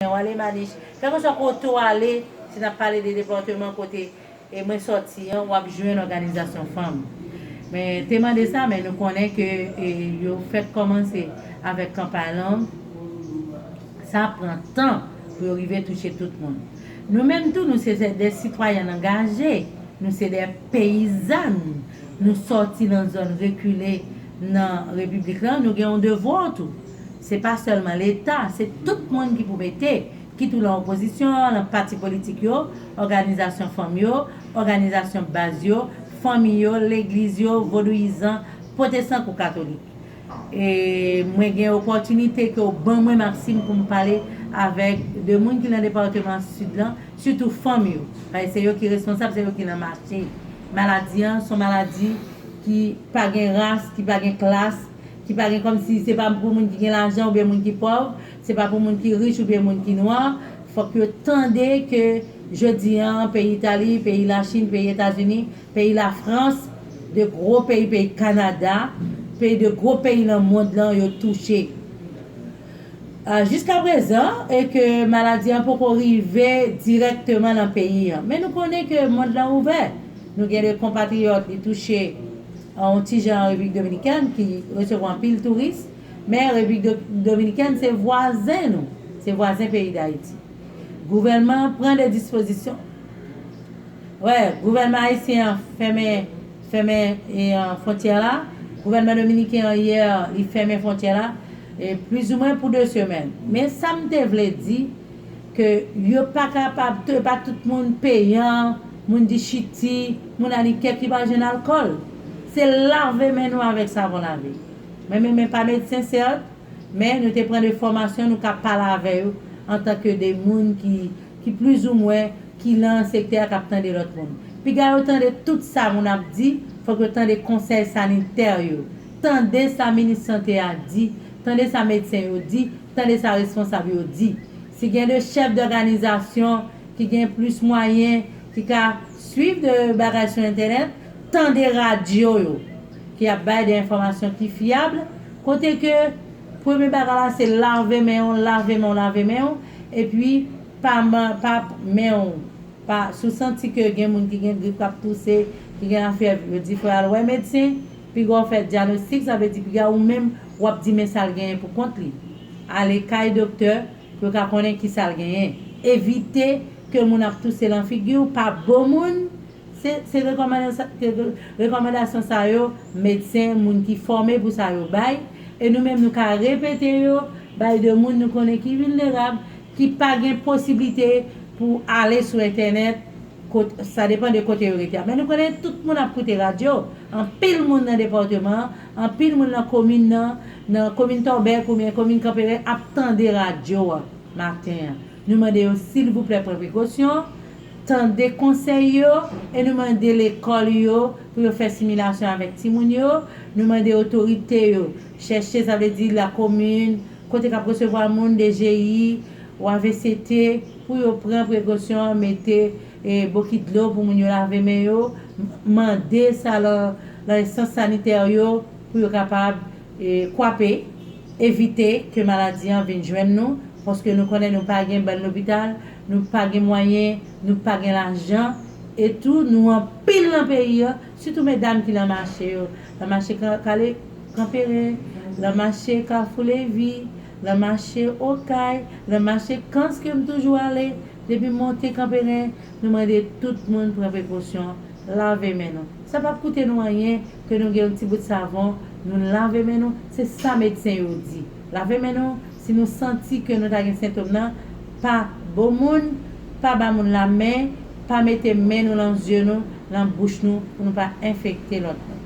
Mwen wale manich. Kelkeswa kote w ale, si n ap pale de depatman kote mwen sòti an, w ap jwenn òganizasyon fanm. Mwen te mande sa, men nou konnen ke yo fèk kòmanse avèk kanpay lang. Sa pran tan pou yo rive touche tout moun. Nou menm tou, nou se de sitwayèn angaje, nou se de peyizàn, nou sòti nan zòn rekile nan Repiblik la, nou gen yon devwa tou. Se pa sèlman Leta, se tout moun ki pou mete, kit ou lan opozisyon, lan pati politik yo, òganizasyon fanm yo, òganizasyon baz yo, fanmi yo, legliz yo, vodouyizan, pwotesan kou katolik. E mwen gen opòtinite ke w ban mwen Maksim pou m pale avèk de moun ki lan departeman Sid lan, sitou fanm yo. Paske se yo ki responsab, se yo ki lan mache. Maladi an, son maladi ki pa gen ras, ki pa gen klas. ki pa gen kòm si se pa pou moun ki gen lajan oubyen moun ki pòv, se pa pou moun ki rich oubyen moun ki nwa, fòk yo tande ke jodi an peyi Itali, peyi Lachin, peyi Etazini, peyi Lafrans, de gwo peyi, peyi Kanada, peyi de gwo peyi nan mond lan yo touche jiska prezan e ke maladi an poko rive dirèkteman nan peyi an. Men nou konnen ke mond lan ouvè, nou gen de konpatriyòt li touche. yon ti jan an Repiblik Dominikèn ki resevwa anpil touris, men Repiblik Dominikèn se vwazen nou, se vwazen peyi Dayiti. Gouvènman an pran de dispozisyon, wè, gouvènman ayisyen an fèmen, fèmen fwontyè la, gouvènman dominiken an yè li fèmen fwontyè la, plizoumwen pou 2 semèn. Men sa m te vle di, ke yo pa kapab, yo pa tout moun peyan. Moun di chiti, moun alikè ki pa jwenn alkòl. Se lave men nou avèk savon lave. Mwen menm mwen pa medsen sèt, men nou te pran de fòmasyon nou ka pale avè yo antan ke de moun ki ki plizoumwen ki lan sektè a k ap tande lòt moun. Piga yo tande tout sa moun ap di, fòk yo tande konsèy sanitè yo, tande sa minis sante a di, tande sa medsen yo di, tande sa responsab yo di. Si gen de chèf dòganizasyon ki gen plis mwayen, ki ka swiv de bagay sou entènèt, tande radyo yo ki ap bay de enfòmasyon ki fyab, kote ke premye bagay la se lave men w, lave men w, lave men w, epi pa pa men w, pa, si w santi ke gen moun ki gen grip k ap touse, ki gen lafyèv, yo di fò y al wè medsen, piga w fè dyanostik, sa vle di piga ou menm w ap di men sa l genyen pou kont li. Ale kay doktè. Pou yo ka konnen ki sa l genyen. Evite ke moun ap touse lan figi w pa bon moun, se se rekòmandasyon sa yo medsen moun ki fòme pou sa yo bay, e nou menm nou ka repete yo bay de moun nou konnen ki vilnerab, ki pa gen posiblite pou ale sou entènèt, kot sa depan de kote yo rete a. Men nou konnen tout moun ap koute radyo, anpil moun nan depatman an Anpil moun nan komin nan, nan komin Torbeck oubyen komin Kanperen ap tande radyo a maten an. Nou mande yo silvouplè pran prekosyon, tande konsèy yo e nou mande lekòl yo pou yo fè similasyon avèk timoun yo. Nou mande otorite yo chèche sa vle di lakomin, kote k ap resevwa moun, DGI ou avct pou yo pran prekosyon mete E bokit dlo pou moun yo lave men yo, mande sa lan enstans sanitè yo pou yo kapab kwape, evite ke maladi an vin jwenn nou, paske nou konnen nou pa gen bèl lopital, nou pa gen mwayen, nou pa gen lajan, e tou nou anpil lan peyi an, sitou medam ki lan mache yo, lan mache kanperen, lan mache kafou levi, lan mache okay, lan mache kans ke m toujou ale. Depi monte Kanperen, nou mande tout moun pran prekosyon, lave men nou. Sa pap koute nou anyen ke nou gen yon ti bout savon, nou lave men nou, se sa medsen yo di. Lave men nou, si nou santi ke nou ta gen sentom nan, pa bo moun, pa ba moun la men, pa mete men nou lan zye nou, lan bouch nou pou nou pa enfekte lòt moun.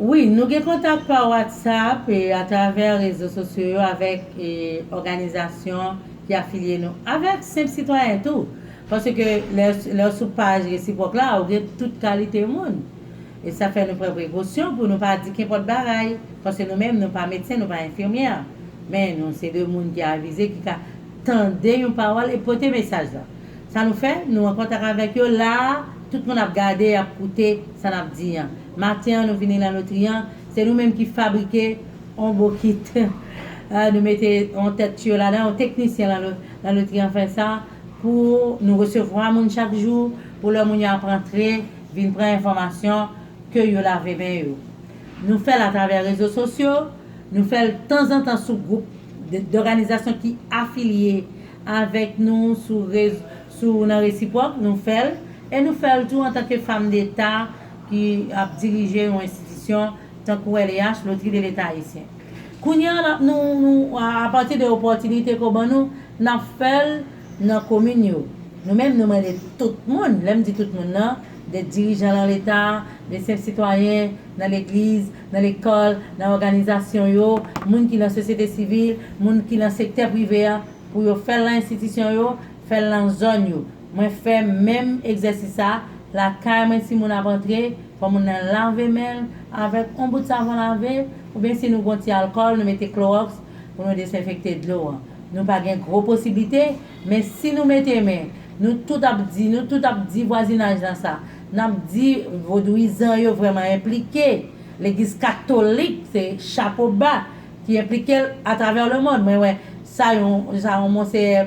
Wi, nou gen kontak pa WhatsApp e atravè rezo sosyo yo avèk òganizasyon ki afilye nou, avèk senp sitwayen tou. Paske lè w sou paj resipwòk la, ou gen tout kalite moun. E sa fè nou pran prekosyon pou nou pa di kenpòt bagay, paske nou menm nou pa medsen, nou pa enfimyè. Men nou se de moun ki avize ki ka tande yon pawòl e pote mesaj la. Sa nou fè, nou an kontak avèk yo la a, tout moun ap gade e ap koute sa n ap di an. Maten an nou vini la lotri an, se nou menm ki fabrike yon bokit, nou mete yon tèt tiyo ladan, yon teknisyen la lotri an fè sa pou nou resevwa moun chak jou, pou lè moun yo ap antre Vin pran enfòmasyon ke yo lave men yo. Nou fè l atravè rezo sosyo, nou fè l tanzantan sou gwoup dòganizasyon ki afilye avèk nou sou rez sou nan resipwòk nou fè l e nou fè l tou antanke fam deta ki ap dirije yon enstitisyon tankou LEH, Lotri de Leta Ayisyen. Kounye a n ap nou nou apati de opòtinite ke w ban nou, n ap fè l. nan komin yo. Nou menm nou mande tout moun, lè m di tout moun nan, de dirijan lan leta, de senp sitwayen, nan legliz, nan lekòl, nan òganizasyon yo, moun ki lan sosyete sivil, moun ki lan sektè prive a, pou yo fè l lan enstitisyon yo, fè l lan zòn yo. Mwen fè menm egzèsis sa, lakay mwen si moun ap antre, fò moun nan lave men l avèk on bout savon lave, oubyen si nou gon ti alkòl nou mete klowòks pou nou desenfekte dlo an. Nou pa gen gwo posiblite, men si nou mete men, nou tout ap di, nou tout ap di vwazinaj lan sa. N ap di vodouyizan yo vrèman enplike, legliz katolik se chapo ba ki enplike l atravè lemonn. Mwen wè sa yon sa yon monseyè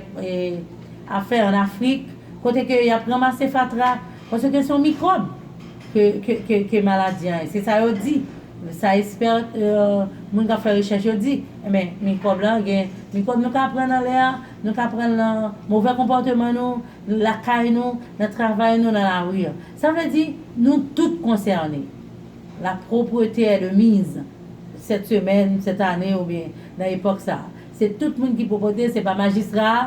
ap fè an Afrik, kote ke y ap ranmase fatra, paske se yon mikwòb ke ke ke maladi an ye. Se sa yo di. Sa espèr moun k ap fè rechèch yo di. Enben, mikwòb la gen mikwòb nou ka pran nan lè a, nou ka pran l nan movè konpòteman nou, lakay nou, nan travay nou, nan lari a. Sa vle di, nou tout konsène. La propreté est de mise sèt semèn, sèt ane oubyen nan epòk sa a. Se tout moun ki pwoprete, se pa majistra a.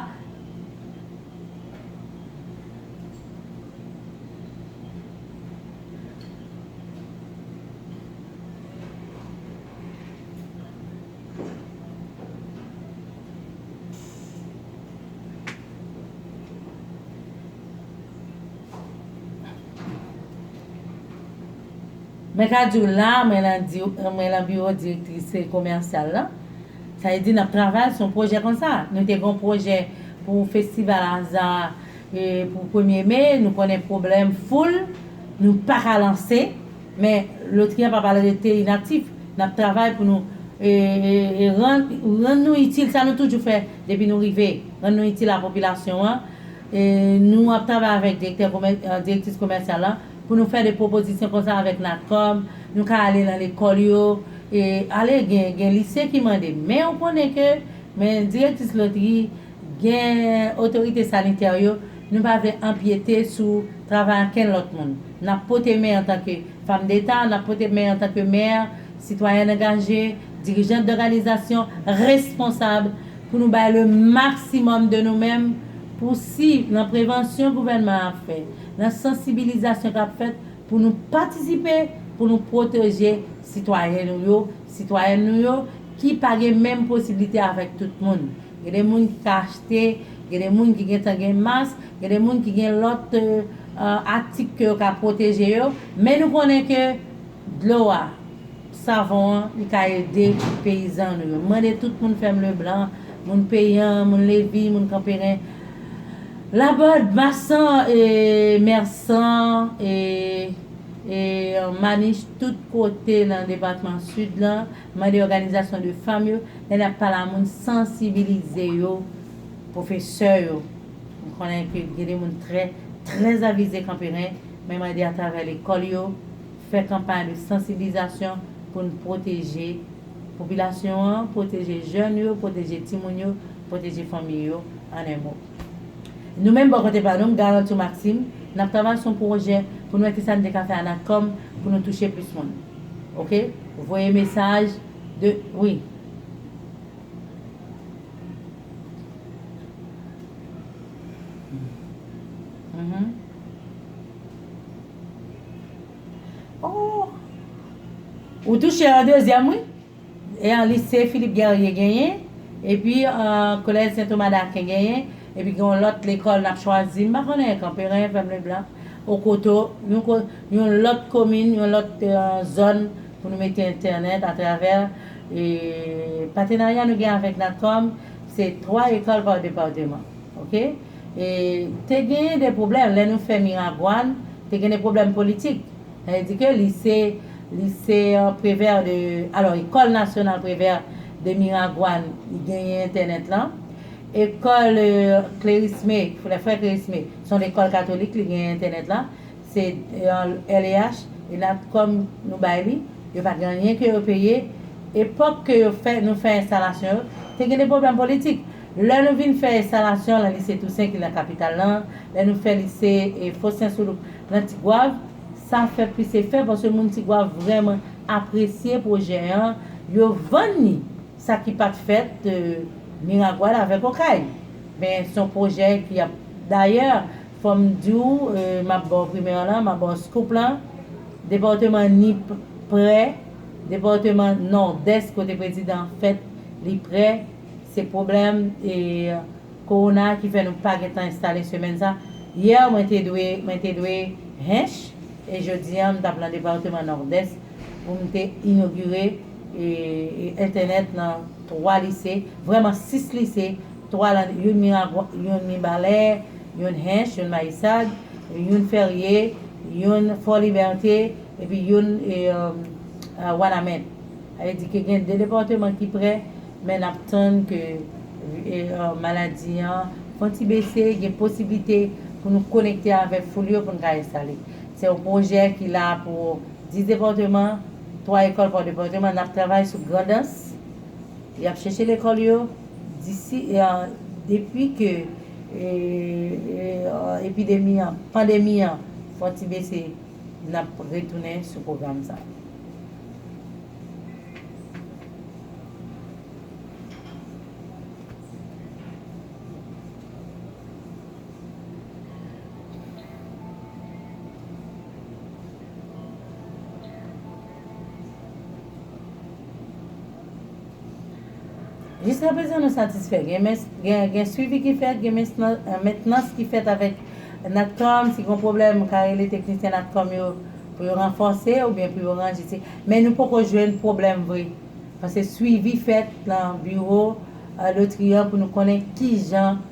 Mwen ka di w la, mwen lan biwo direktris komèsyal lan. Sa vle di n ap travay sou yon pwojè konsa. Nou te gen yon pwojè pou festival aza E pou premye me, nou konnen pwoblèm foul, nou pa ka lanse, men lotri an pa pral rete inaktif. N ap travay pou nou rann nou itil, sa nou toujou fè depi nou rive, rann nou itil a popilasyon an. Nou ap travay avèk direktè, direktris komèsyal lan pou nou fè de pwopozisyon konsa avèk Natcom, nou ka ale lan lekòl yo, ale gen lise ki mande men ou konnen ke men direktris lotri. Gen otorite sanitè yo, nou pa vle anpyete sou travay ankenn lòt moun. N ap pote men antanke Famdeta, n ap pote men antanke mè, sitwayèn angaje, dirijant dòganizasyon, responsab, pou nou bay le maksimòm de nou menm pou si nan prevansyon gouvènman an ap fè, nan sansibilizasyon k ap fèt, pou nou patisipe pou nou pwoteje sitwayen nou yo, sitwayèn nou yo ki pa gen menm posiblite avèk tout moun. Gen de moun ki ka achte, gen de moun ki gentan gen mas, gen de moun ki gen lòt atik ke yo ka pwoteje yo, men nou konnen ke dlo a, savon an, li ka ede peyizan nou yo. M mande tout moun fèm Leblan, moun Peyan, moun Levi, moun Kanperen, Labòd, Masan, Mèsan, e Manich, tout kote nan depatman Sid lan, Mande òganizasyon de fanm yo, lè nap pale a moun sansibilize yo, pwofesè yo, m konnen ke gen de moun trè, trè avize kanperen, men mande atravè lekòl yo, fè kanpay de sansiblizasyon pou n pwoteje popilasyon an, pwoteje jèn yo, pwoteje timoun yo, pwoteje fanmi yo, an en mo. Nou menm bò kote pa nou, m garanti w Maxime, n ap travay sou yon pwojè pou nou wè kisa n te ka fè a Natcom pou nou touche plis moun. Ok. Voye mesaj de wi. Ou touche yon dezyèm wi. E an lise Philippe Guerrier genyen, epi an kolèj Sen Toma Daken genyen, epi gen yon lòt lekòl n ap chwazi, m pa konnen, Kanperen, Fèm Leblan, Okoto, yon ko, yon lòt komin, yon lòt zòn pou nou mete entènèt atravè e patenarya nou gen avèk Natcom, se 3 ekòl pa departeman. Ok? E te genyen de pwoblèm lè nou fè Miragwàn, te gen de pwoblèm politik. Sa vle di ke lise, lise Prévert de, alò Ecole Nationale Prévert de Miragoâne li genyen entènèt lan. Ecole Clérismé, les Frères Clérismé, se yon lekòl katolik li genyen entènèt lan. Se LEH e Natcom nou bay li. Yo pa gen anyen ke yo peye. Epòk ke yo fè, nou fè enstalasyon yo, te gen de pwoblèm politik. Lè nou vin fè enstalasyon lan lise Toussaint ki lan kapital lan, lè nou fè lise Faustin Soulouque, nan Tigwav, sa fè plis efè paske moun Tigwav vrèman apresye pwojè an, yo vann li, sa ki pat fèt Miragwàn avèk Okay. Men son pwojè ki ap dayè fòm di w map ba w primè an lan, map ba w scoop lan, depatman Nip prè, depatman Nòdès kote prezidan fèt li prè, se pwoblèm e. Corona ki fè nou pa gentan enstale semèn sa hier mwen te dwe mwen te dwe Hinche e jodi an m tap lan departeman Nord'Est pou m te inogire entènèt nan 3 lise vrèman 6 lise 3 lan youn Miragwa youn Mibalè youn Hinche youn Mayisad youn Ferye youn Fort Liberté epi youn Wanament. Sa vle di ke gen 2 depatman ki prè, men n ap tann ke maladi an fè yon ti bese, gen posiblite pou nou konekte avèk foul yo pou n ka enstale. Se yon pwojè ki la pou 10 depatman, 3 ekòl pa depatman. N ap travay sou Grandans, y ap chèche lekòl yo, disi, depi ke epidemi an, pandemi an fè yon ti bese, n ap retounen sou pwogram sa. Jiska prezan nou satisfè. Gen swivi ki fèt, gen mentnans ki fèt avèk Natcom. Si gen pwoblèm, ka rele teknisyen Natcom yo. Pou yo ranfòse ou byen pou yo ranje ti men nou poko jwenn pwoblèm vre pase swivi fèt lan biwo lotri an pou nou konnen kijan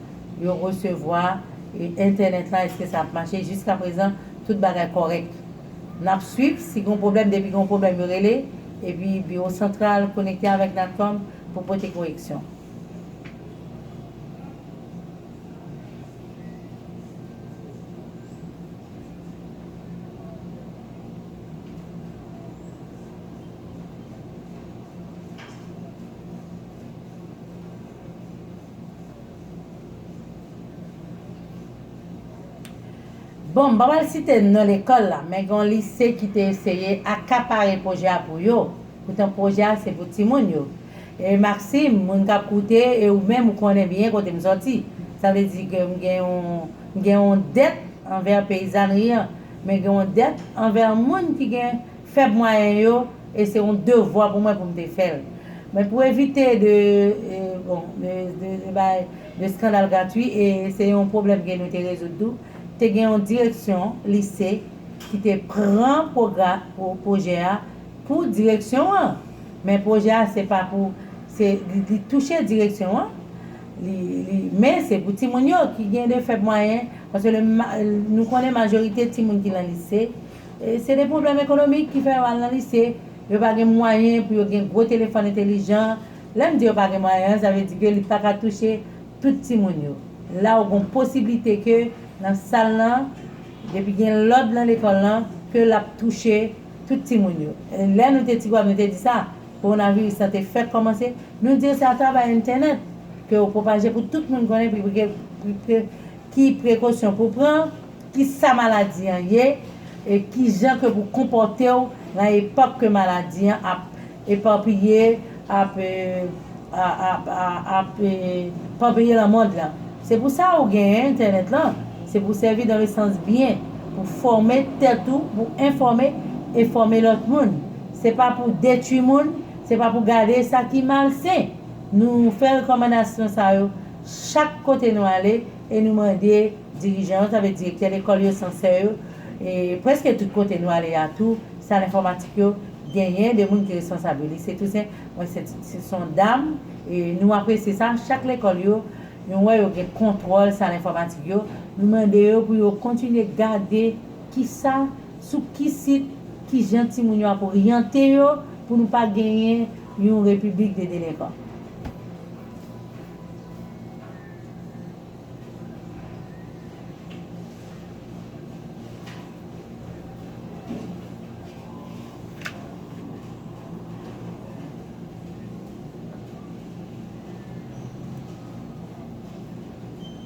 yo resevwa entènèt lan eske sa ap mache jiska prezan tout bagay kòrèk nap swiv si gon pwoblèm depi gon pwoblèm yo rele epi biwo santral konekte avèk natcom pou pote koreksyon. Bon, m pa pral site non lekòl la, men gen yon lise ki te eseye akapare pwojè a pou yo, poutan pwojè a se pou timoun yo. E Maxime, moun k ap koute e ou menm ou konnen byen kote m sòti, sa vle di ke m gen yon. M gen yon dèt anvè peyizànri an, men gen yon dèt anvè moun ki gen fèb mwayen yo e se yon devwa pou mwen pou m te fè l. Men pou evite de, bon, de, de, de bay, de skandal gratwi e se yon pwoblèm ke nou te rezoud tou, te gen yon direksyon lise ki te pran pwogra, pou, pwojè a pou direksyon an. Men pwojè a se pa pou, se, li, li touche direksyon an, li men se pou timoun yo ki gen de fèb mwayen paske le nou konnen majorite timoun ki lan lise se de pwoblèm ekonomik ki fè yo al lan lise yo pa gen mwayen pou yo gen gwo telefòn entelijan lè m di yo pa gen mwayen an sa vle di ke li pa ka touche tout timoun yo la ou gon posiblite ke nan sal lan depi gen lòd lan lekòl lan ke lap touche tout timoun yo lè nou te ti gwòm nou te di sa. Kowonaviris la te fèk kòmanse, nou di yo se atravè entènèt ke yo pwopaje pou tout moun konnen pi pre pi pre ki prekosyon pou pran, ki sa maladi an ye, e ki jan ke pou konpòte w nan epòk ke maladi an ap epapiye, ap ap ap epapiye nan mond lan. Se pou sa ou genyen entènèt lan, se pou sèvi dan le sans byen, pou fòme tèt ou, pou enfòme e fòme lòt moun. Se pa pou detwi moun, se pa pou gade sa ki malsen. Nou fè rekòmandasyon sa yo chak kote nou ale e nou mande dirijan yo, sa vle direktè lekòl yo, sansè yo, e prèske tout kote nou ale a tou, sal enfòmatik yo, genyen de moun ki responsab yo. Lise Tousen, mwen se se son dam, e nou apresye sa, chak lekòl yo, nou wè yo gen kontwòl sal enfòmatik yo, nou mande yo pou yo kontinye gade ki sa. Sou ki sit, ki jan timoun yo ap oryante yo pou nou pa genyen yon repiblik de delenkan.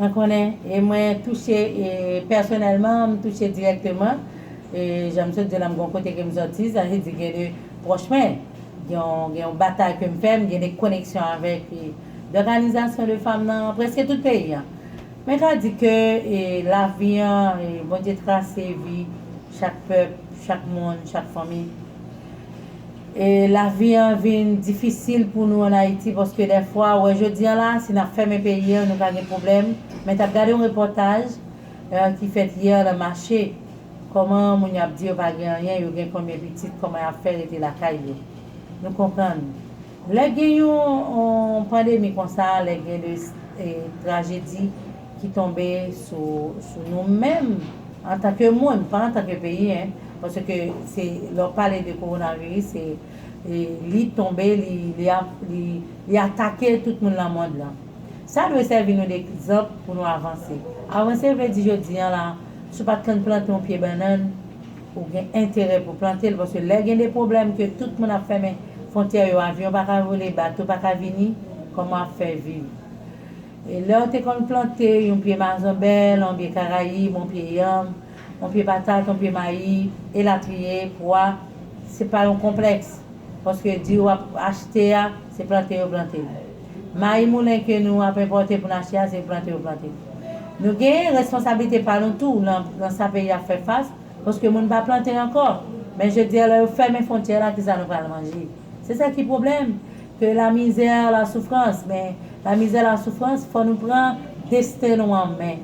Mwen konnen e mwen touche e pèsonèlman m touche dirèkteman e jan m sot di w la m gen yon kote ke m soti sa vle di gen de pwòch mwen gen yon gen yon batay ke m fè m gen de koneksyon avèk e dòganizasyon de fanm nan prèske tout peyi an mwen ka di ke e lavi an e Bondye trase vi chak pèp chak moun chak fanmi. Lavi an vin difisil pou nou an Ayiti paske dèfwa wè jodi an la si nap fèmen peyi an nou ka gen pwoblèm men tap gade yon repòtaj ki fèt hier nan mache kòman moun yo ap di yo pa gen anyen yo gen konbyen pitit kòman yap fè rete lakay yo nou konprann lè gen yon pandemi konsa lè gen de trajedi. ki tonbe sou sou nou menm antanke moun pa antanke peyi hein paske se lè w pale de coronavirus se li tonbe li li ap li li atake tout moun lan mond lan sa dwe sèvi nou de ekzanp pou nou avanse avanse vle di jodi an la si w pat kan plante yon pye bannann ou gen enterè pou w plante l paske lè gen de pwoblèm ke tout moun ap fèmen fontyè yo avyon pa ka vole bato pa ka vini kòman w ap fè viv. Lèw te konn plante yon pye mazanbèl, on pye karayib, on pye yanm, on pye patat, on pye mayi, elatriye, pwa, se pa yon konplèks, paske diri wap achte a, se plante yo plante l. Mayi moulen ke nou ap enpòte pou n achte a, se plante yo plante l. Nou genyen responsablite pa nou tou nan sa peyi a ap fè fas, paske moun pa plante ankò, men jodi a lè yo fèmen fontyè la kisa nou pral manje? Se sa ki pwoblèm, ke la misère, la souffrance, men la misère, la souffrance fò nou pran desten nou an men,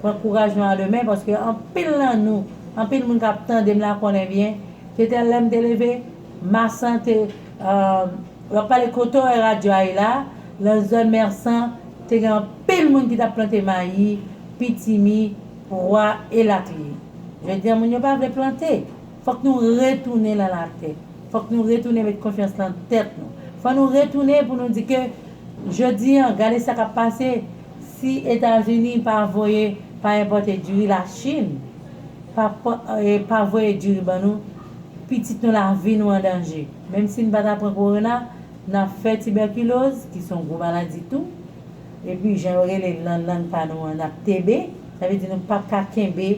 pran kouraj nou a de men paske anpil nan nou, anpil moun kap tandem la konnen byen ke te lèm te leve Marsan te wap pale kote wè radyo a ye la, lan zòn Mersan te gen anpil moun ki tap plante mayi, pitimi, pwa elatriye. Jodi a moun yo pa vle plante. Fòk nou retounen nan lapè. Fòk nou retounen met konfyans lan tèt nou. Fò nou retounen pou nou di ke jodi an gade sa kap pase si Etazini pa voye, pa enpòte diri, la Chin pa pa voye diri ban nou, pitit nou lavi nou an danje. Menm si n pa ta pran korona, nap fè tibèkiloz ki son gwo maladi tou. Epi jan yo rele l nan lang pa nou an nap tebe. Sa vle di nou pap ka kenbe.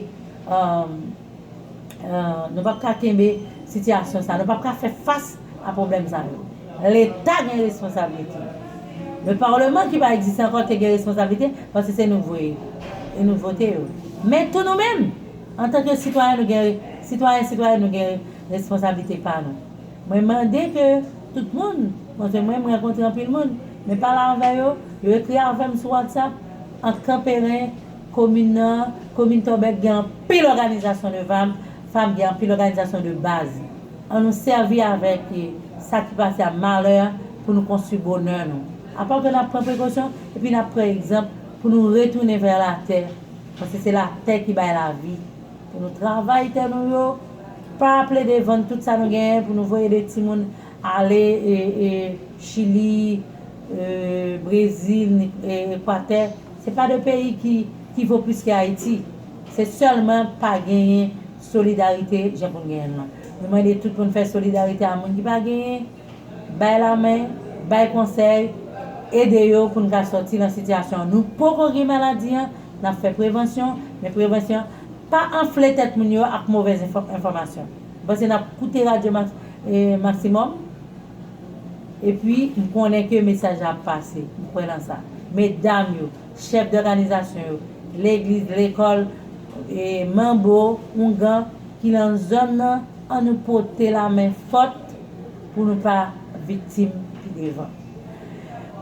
Nou pap ka kenbe sitiyasyon sa, nou pap ka fè fas a pwoblèm sa yo. Leta gen responsablite. Le parlement ki pa egziste ankò te gen responsablite paske se nou voye e nou vote yo. Men tou nou menm antanke sitwayen nou gen sitwayen sitwayèn nou gen responsablite pa nou. Mwen mande ke tout moun, montre mwen mwen rankontre anpil moun, men pale avè yo, yo ekri avè m sou WhatsApp, ant kanperen, Komin nan, komin Tòbèk gen anpil òganizasyon de vam, fam gen anpil òganizasyon de baz. An nou sèvi avèk sa ki pase a malè pou nou konstwi bonè nou. Apa ke n'ap pran prekosyon epi n'ap pran egzanp pou nou retounen vè latè, paske se latè ki bay lavi. Pou nou travay tè nou yo, pa plede vann tout sa nou genyen pou nou voye de timoun ale Chili, Brezil, Ekwatè. Se pa de peyi ki ki vo plis ke Ayiti. Se sèlman pa genyen solidarite jan pou n genyen l lan. Nou mande tout pou n fè solidarite a moun ki pa genyen, bay lamen, bay konsèy, ede yo pou n ka sòti lan sitiyasyon an. Nou poko gen maladi an, n ap fè prevansyon, men prevansyon pa anfle tèt moun yo ak movèz enfòmasyon. M panse n ap koute radyo maksimòm. Epi, m konnen ke mesaj la ap pase. M kwè nan sa. Medam yo, chèf dòganizasyon yo, legliz, lekòl, e manbo, oungan, ki lan zòn nan, an nou pote lamen fòt pou nou pa viktim pi devan.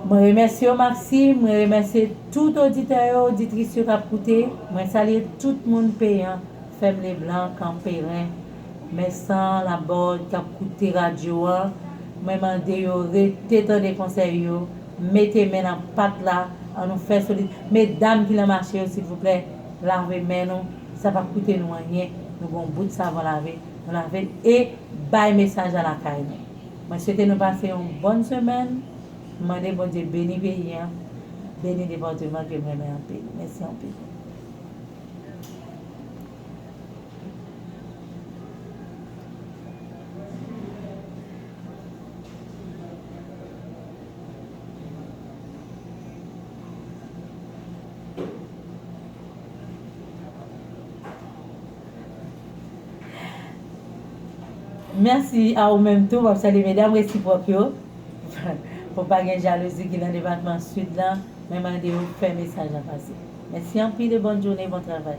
Mwen remèsye w Maxime, mwen remèsye tout oditè yo, oditris yo k ap koute. Mwen salye tout moun Peyan, Fèm Leblan, Kanperen. Mensah Laborde kap koute radyo an mwen mande yo rete tande konsèy yo mete men nan pat la an nou fè solid medam ki nan mache yo silvouplè lave men nou sa pap koute nou anyen nou gen yon bout savon lave nou lavel e bay mesaj la lakay nou mwen swete nou pase yon bòn semèn m mande Bondye beni peyi an beni departement kem renmen anpil mèsi anpil. Mèsi a ou menm tou, map salye medam resipwòk yo, pou pa gen jalouzi ki nan depatman Sid lan. Mwen mande ou fè mesaj la pase. Mèsi anpil e bòn jounen bon travay.